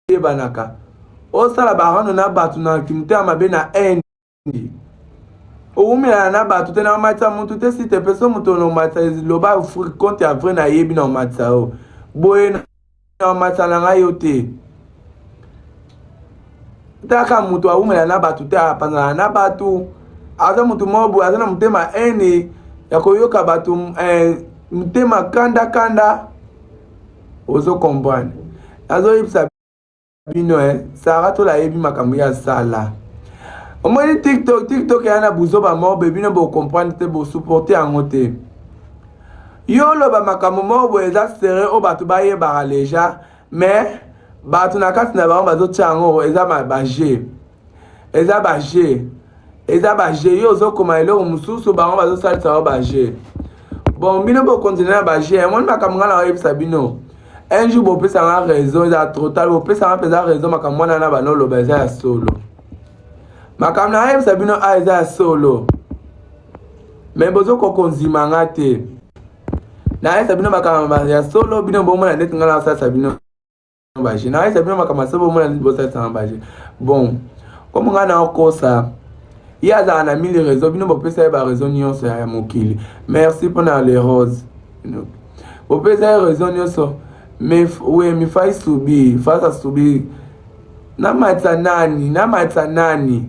eyebanaka osala barano na bato na kimotema mabe na haine owumelana na bato te na omatisa mutu te si te peso moto na omatisa loba compte ya vrai nayebi na omatisa yo boye na omatisa na ngai yo te taka moto awumela na bato te apanzana na bato aza moto moko boye aza na motema ene ya koyoka bato eh, motema kanda kanda ozo comprendre nazoyebisa bino eh, sara tola ayebi makambo ya sala omoni tiktok tiktok eya na buzoba moko boye bino bocomprendre te bosupporte yango te yo oloba makambo moko boye eza sere oyo bato bayebaka deja mais bato na kati na bango bazotya yango eza baje eza ba jeu eza ba jeu yo ozokoma eloko mosusu bango bazosalisa yo ba jeu bon bino bokontinue na ba jeu yango ni makambo ngai nakoyebisa bino un jour bopesa nga raison eza trop tard bopesa nga mpenza raison makambo wana na bana oloba eza ya solo makambo nayebisa bino a eza ya solo me bozokokonzima nga te nayebisa bino makambo ya solo bino bomona ndeti nga nasalisa bino baje na aisa bino makambo ase bomona nini bosalisana baje bon komo ngai naokosa ye azala na mili réseau bino bopesa ye baréseau nyonso ya mokili merci mpo na le rose bopesa ye réseau nyonso we mifai subi fasa subi namatisa nani namatisa nani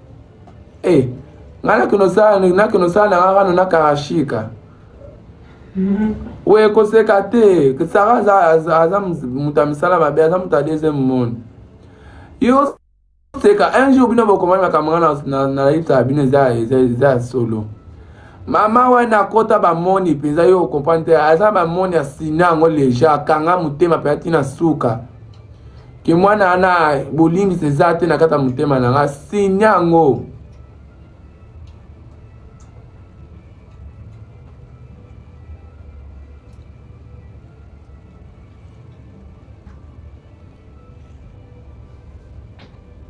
Eh, nga nakino sala nakino sala na nga kano na karashika oyo ekoseka te sara aza moto ya misala mabe aza moto ya deuxième monde yo seka un jour bino bokomami makambo nga nayebisaka bino eza ya solo mama wana akota bamoni mpenza yo okomprendre te aza bamoni asina yango leja akanga motema mpenza ntina suka ke mwana wana bolimbisi eza te na kati ya motema na nga sini yango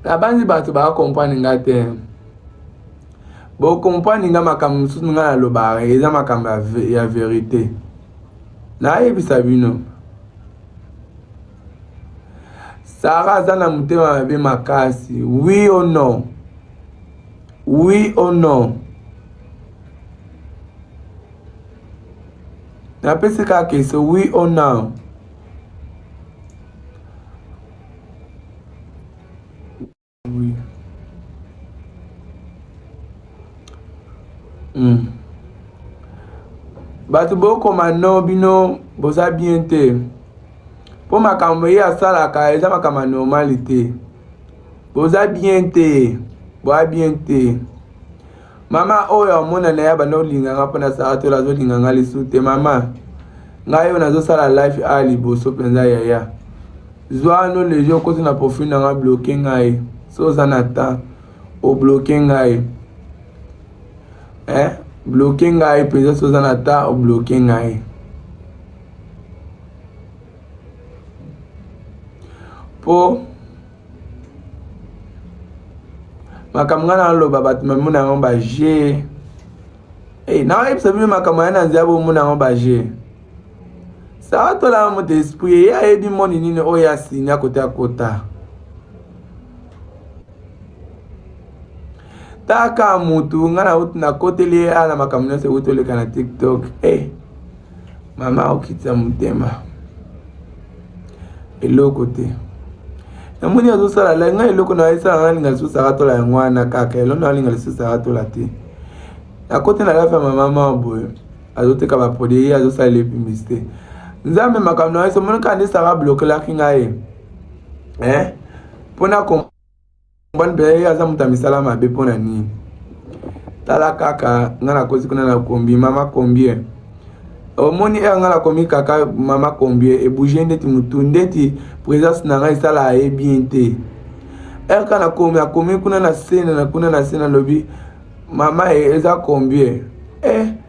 nabanzi bato bakompani nga te bokompani nga makambo mosusu nga nalobaka eza makambo ya verite nayebisa bino sara aza na motema mabe makasi oui o non oui o non napesi kaka eso oui o non Oui. Mm. bato bokoma no bino boza bien te mpo makambo ye asalaka eza makambo ya normali te boza bien te boa bien te mama oyo amona na ye abanda kolinga nga mpo na saratola azolinga nga lisu te mama ngai oyo nazosala life a liboso mpenza yaya zwa no leje okoti na profil na nga bloke ngai so oza na temps obloke ngai eh? bloke ngai mpenza so oza na temps obloke ngai mpo makambo ngai naloba bato mamona yango baje hey, eh, nakoyebisa bino makambo ya na nzela bomona yango baje sara tolaka moto esprit ye ayebi moni nini oyo asini akota kota taka mutu ngai nauti nakoteli ye ana makambo nyonso euti oleka na tiktok e hey, mama okitisa motema eloko te namoni azosala la ngai eloko na esala nalinga lisusu akatola yango wana kaka eloko nalinga lisusu akatola te nakote na lafa mama mama boye azoteka baproduit ye azosala le publicité nzambe makambo na yeso omoni kaka nde sara blokelaki ngai eh mpona mobali mpe ye aza moto ya misala mabe mpo na nini tala kaka nga nakosi kuna na kombi mama combien omoni ere nga nakomi kaka mama combien ebouge ndeti motu ndeti présence na nga esala aye bien te ere ka nakomi akomi kuna na sena na kuna na sena alobi mama eza combien eh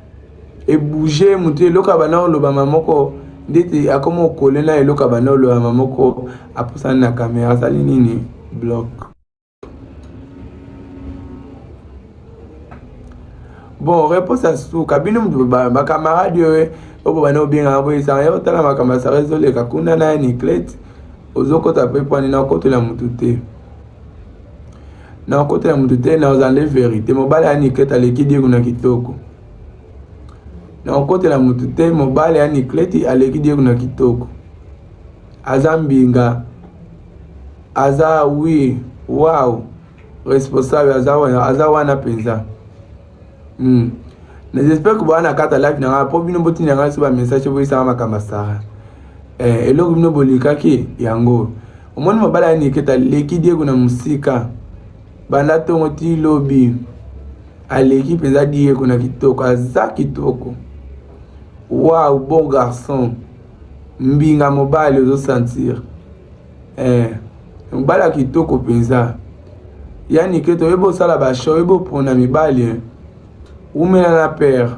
ebouge motu eloko ya bana olobama moko ndeti akoma okole na eloko ya bana olobama moko apusani na kamera asali nini blok bon reponse ya suka bino motu bakamarade oyo oyo bana obengaka boye esanga ya otala makambo ya sara ezoleka kuna na ya niclete ozokota mpe pwani na okotela motu te na okota ya moto te na ozande verite mobali ya niklete aleki diego na kitoko na okotela moto te mobali ya niklete aleki diego na kitoko aza mbinga aza wi wow responsable aza wana mpenza Hmm. Mais j'espère que bwana kata live na nga po bino botinda nga ba message boyisaka makambo sara eh, eloko bino bolikaki yango omoni mobala ya niketa leki diego na mosika banda ntongo ti lobi aleki mpenza diego na kitoko aza kitoko wow bon garçon mbinga mobali ozosentir eh, mobala kitoko mpenza ya nike toyebi osala basho oyebi opona mibali eh. wumela na pere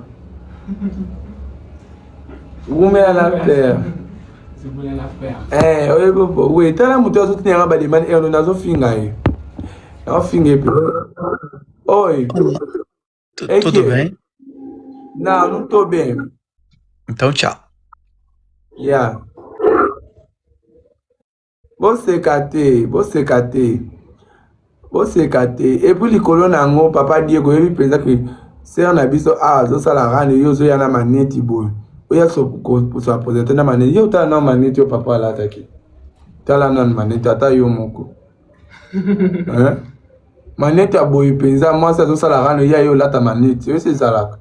wumela na pere eh, oyebi we tala moto azotuna yanga bademande erno nazofinga ye naofinga epe oyo Tu- Eke. Tudo bem? Não, não tô bem. Então, tchau. Yeah. Você cate, você cate. Você cate. Et puis likolo na yango papa Diego oyebi mpenza ke sere na biso awa azosala rani yo ozoya na maneti boye oya koswa presente na maneti yo otala na maneti yo papa alataki tala nanu maneti ata yo moko hein? maneti ya boye mpenza mwasi azosala rano ye aye olata maneti oyo ezalaka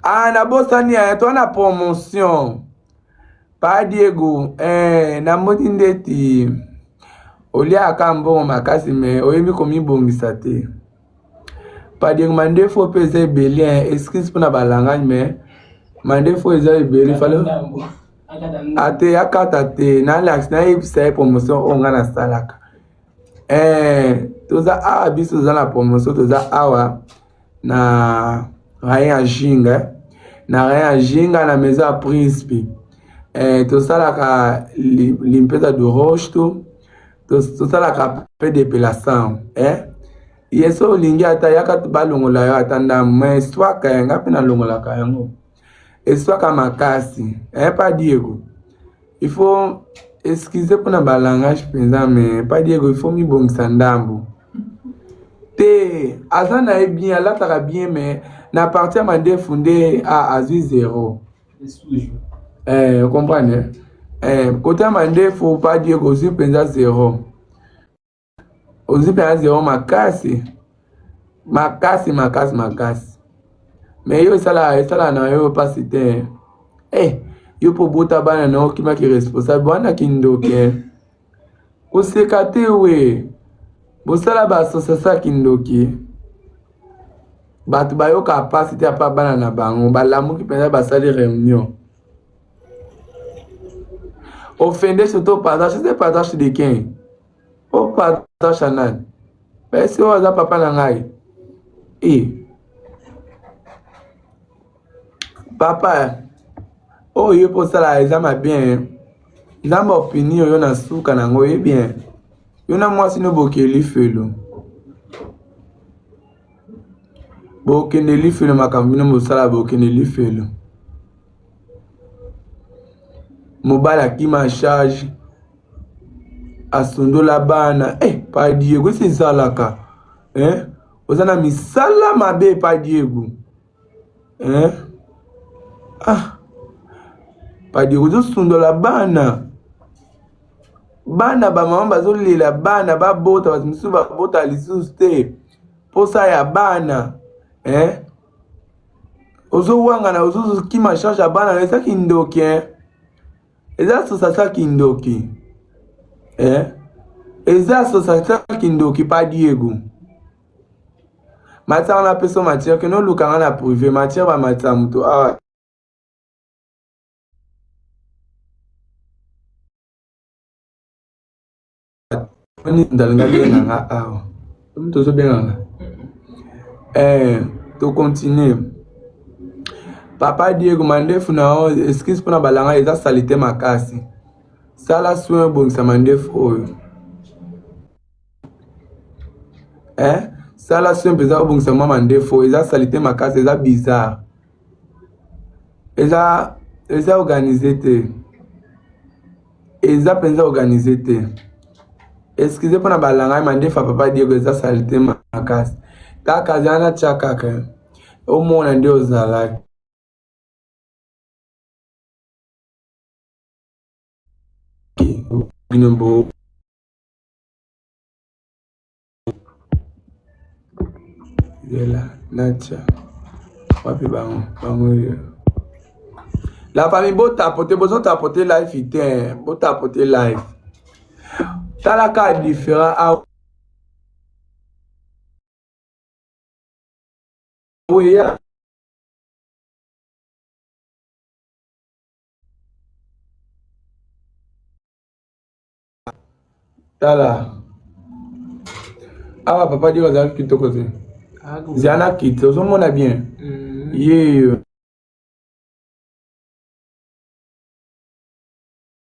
ah nabosani ya to na promotion pa diego eh, namoni ndeti oliaka mbongo makasi me oyebi komibongisa te Padiri mandefu oyo mpe eza ebele hein. excuse mpona balangani mais mandefu oyo eza ebele fale ate akata te nalakisi nayebisa ye promotion oyo ngai nasalaka eh, toza awa biso toza na promotion toza awa na rayen ya jinga eh. na rayen ya jinga na maison ya principe eh, tosalaka limpeza de roche to tosalaka pe depilação eh? ye so olingi ata yaka balongola yo ata ndambo ma eswaka ya ngai mpe nalongolaka yango eswaka makasi eh, pa diego il faut excuse mpo na balangage mpenza me pa diego il faut mibongisa ndambo te aza na ye bien alataka bien me na parti ya mandefu nde azwi zero eh, comprendre eh, kotama nde faut pas dire kozwi mpenza zero ozwi mpenza zero makasi makasi makasi makasi me yo esala esala na yo mpasi te eh, yo mpo obota bana na yo okimaki responsable wana kindoke koseka te we bosala ba association ya kindoki bato bayoka mpasi te apa bana na bango balamuki mpenza basali réunion ofende surtout partage ose partage de kin o partage ya nani esi oyo aza papa na ngai e papa oyo oh, yo mpo osala eza mabe nzambe opini oyo na suka na yango ye bien yo na mwasi no bokeli felo bokende lifelo makambo bino bosala bokende lifelo mobali akima charge asundola bana eh, pa diego esi ezalaka eh? oza na misala mabe pa diego hein ah padi ozo sundola bana bana ba maman bazo lela bana ba bota batu misusu ba bota lisusu te posa ya bana hein ozo wangana ozo kima charge ya bana eza kindoki hein eza sosasa kindoki eh? eza sosasa kindoki pa diego matanga na peso matière kino olukanga na privé matière bamatisa moto awa ah. ndalinga benga nga awa omi tozobenga nga eh, tocontinue papa diego mandefu na yo eskise mpo na balanga eza salite makasi sala soin obongisa mandefu oyo eh sala soin mpenza obongisa mwa mandefu eza salite makasi eza bizarre eza eza organise te eza mpenza organise te excuse mpo na balanga ye mandefu ya papa diego eza salite makasi kaka zala na tya kaka omona nde ozalaki bino bo La famille bo tapote bozo tapote life ite bo tapote life tala ka différent a oya tala awa ah, papa diro azalaki kitoko te ah, zala kiti ozomona bien mm. yeyo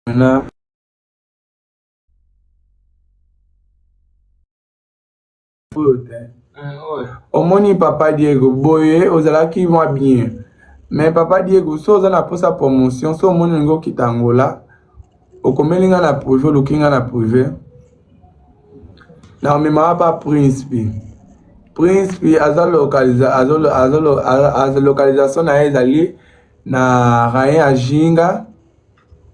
na oyo te omoni papa diego boye ozalaki mwa bien me papa diego so oza na mposa promotion so omoni olingi okita angola okomeli ngai na prive oluki ngai na prive na omemaka pa prince pi prince pi aza localisation na ye ezali na rayen ajinga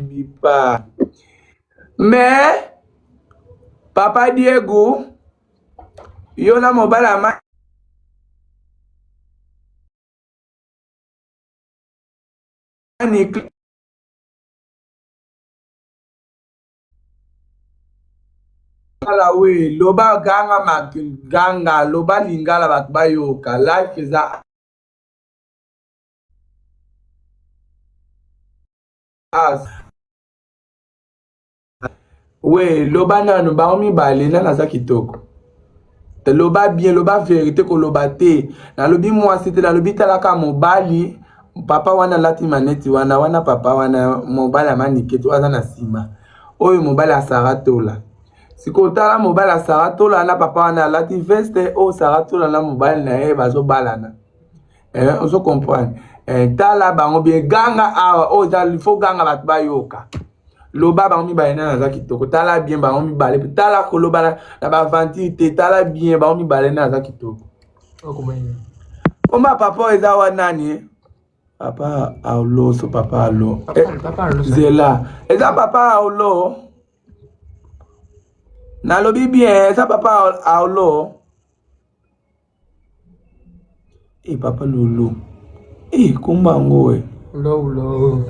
bipa mais papa diego yo na mobali ama niclare lingala we loba ganga maganga loba lingala bato bayoka life eza we loba nanu bango mibale nani aza kitoko loba bien loba verite koloba te nalobi mwasi te nalobi talaka mobali papa wana alati maneti wana wana papa wana mobali amaniketi aza na nsima oyo mobali asara tola sikoyo tala mobali asara tola na papa wana alati veste oyo sara tola na mobali na ye bazobalana eh, ozo comprendre eh, tala bango bien ganga awa oyo oh, faut ganga bato bayoka loba bango mibale nani aza kitoko tala bien bango mibale mpe tala koloba na baventure te tala bien bango mibale nani aza kitoko oma papa oyo eza wa nani eh? papa aoloso papa alo eh, zela eza papa aolo nalobi bien eza papa aolo Eeh papa loulou eeh kombo yango oe loulou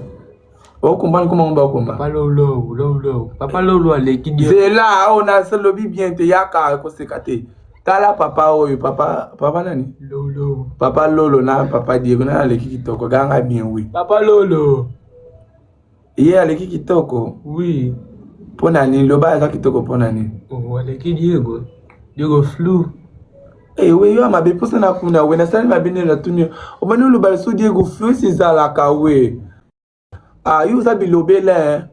loulou o comprendre kombo yango ba komba papa loulou loulou papa loulou aleki dio zela awa oh, na se lobi bien te yaka koseka te tala papa oyo papa papa nani lolo papa lolo na papa diego na aleki kitoko ganga bien oui papa lolo ye aleki kitoko oui mpo na nini loba aza kitoko mpo na nini oh, aleki diego diego flou ewe eh, yo mabe mposa na kuna we nasali mabe nde natuni obandi oloba liso diego flou esi ezalaka we ah yo oza bilobela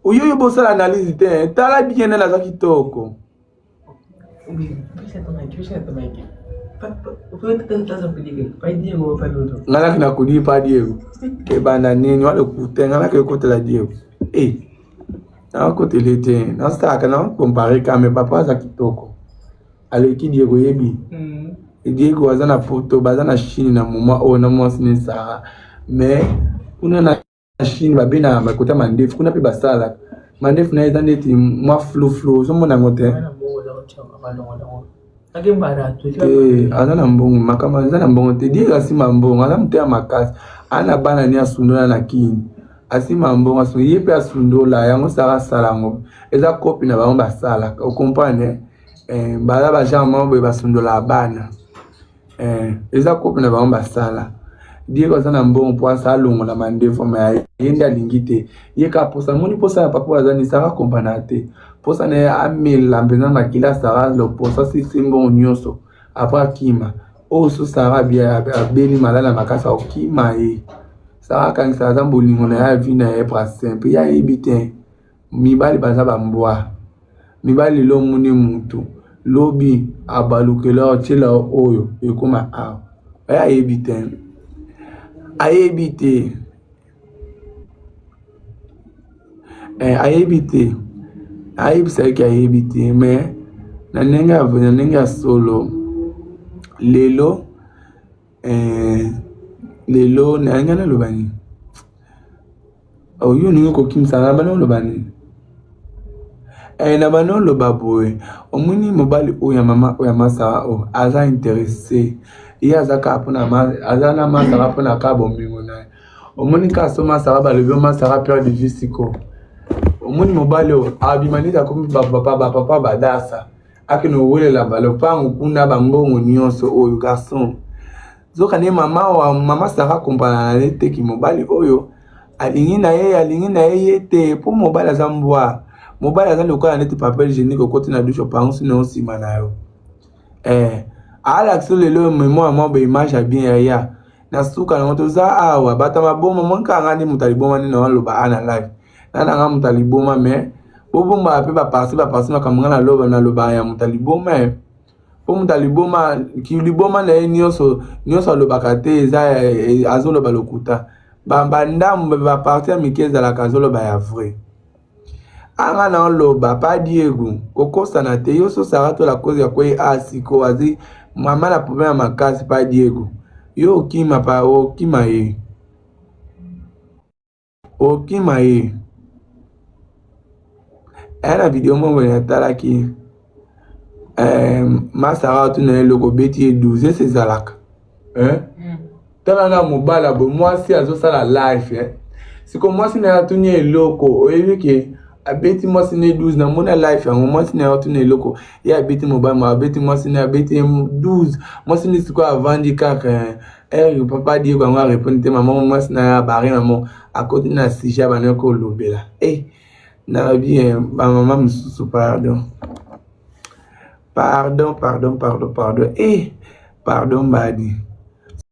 oyo yo bosala analyse te tala bien nani aza kitoko ngalaki nakudi pa diego ebanda nini walokute ngalaki ekotela diego e eh, nakotele te nasalaka na kompare kame papa aza kitoko aleki diego yebi mm. diego aza na poto baza na chine na moma oyo na mwasi ne sara mais kuna na chine babe na bakota mandefu kuna mpe basalaka mandefu naye eza ndeti mwa fluflu ozomona yango te eh, aza na mbongo makambo aza na mbongo te dire asima mbongo aza moto ya makasi aza na bana ni asundola na kini asima mbongo aso ye mpe asundola yango saka asala yango eza kopi na bango basalaka okomprane eh, baza bagenre moko boye basundolaka bana eh, eza kope na bango basala diego aza na mbongo mpo asa alongola mandefu ma ye nde alingi te ye kaka mposa amoni mposa ya papa aza nisaka kompana te mposa na ye amela mpenza makila sara loposa sisi mbongo nyonso apres akima oyo so sara abeli malala makasi akokima ye sara akangisa aza bolingo na ye avi na ye prasin mpe ye ayebi te mibali baza ba mbwa mibali lelo omoni mutu lobi abalukela otyela oyo ekoma awa aya ayebi te ayebi te eh, ayebi te ayebisaki ayebi te me na ndenge ya na ndenge ya solo lelo eh, lelo nalinga naloba nini oyo olingi kokimisa nga bana oloba nini eh, na bana oloba boye omoni mobali oyo ya mama oyo ya masaa oyo oh, aza interesse ye aza kaka mpona aza na masaka mpona kaka bomengo na ye omoni kaka so masaka balobi masaka pere de vie sikoyo omoni mobali oyo abima neti akomi bapapa badasa akende kowelela balopango kuna bambongo nyonso oyo garçon zoka nde mama wa mama sara kompana na ye teki mobali oyo alingi na ye alingi na ye ye te mpo mobali aza mbwa mobali aza lokola neti papel genique okoti na dushe opango sino nsima na yo eh, alakisi lelo memoire mwa baimage ya bien yaya na suka nango toza awa bato ya maboma monkanga nde moto alibomani na waloba ana live na na nga muta liboma mais bo bomba pe ba parti ba parti makambo nga na loba na loba ya muta liboma eh. po muta liboma ki liboma na ye nioso nioso alobaka te eza eh, eh, azoloba lokuta ba ba ndambo ba parti ya mike ezalaka azoloba ya vrai anga na oloba pa diego kokosana te yo so sara to la cause ya kwei a ah, siko azi mama na problème ya makasi pa diego yo okima pa okima ye okima ye aya na video moko boye natalaki eh, masara atuna ye loko obeti ye 12 ese ezalaka eh? mm. tala na mobala bo mwasi azosala life eh? siko mwasi na ye atuni ye eloko oyebi ke abeti mwasi na ye 12 na mona life yango mwasi na ye atuni eloko ye abeti mobali ma abeti mwasi na ye abeti ye 12 mwasi na ye sikoyo avandi kaka eh? heure eh, papa diego yango arepondre te mama mwasi na ya bare namo akoti na sujet abandaki kolobela e eh, nalobi eh, bamama mosusu pardon pardon pardon pardon pardon e pardon mbadi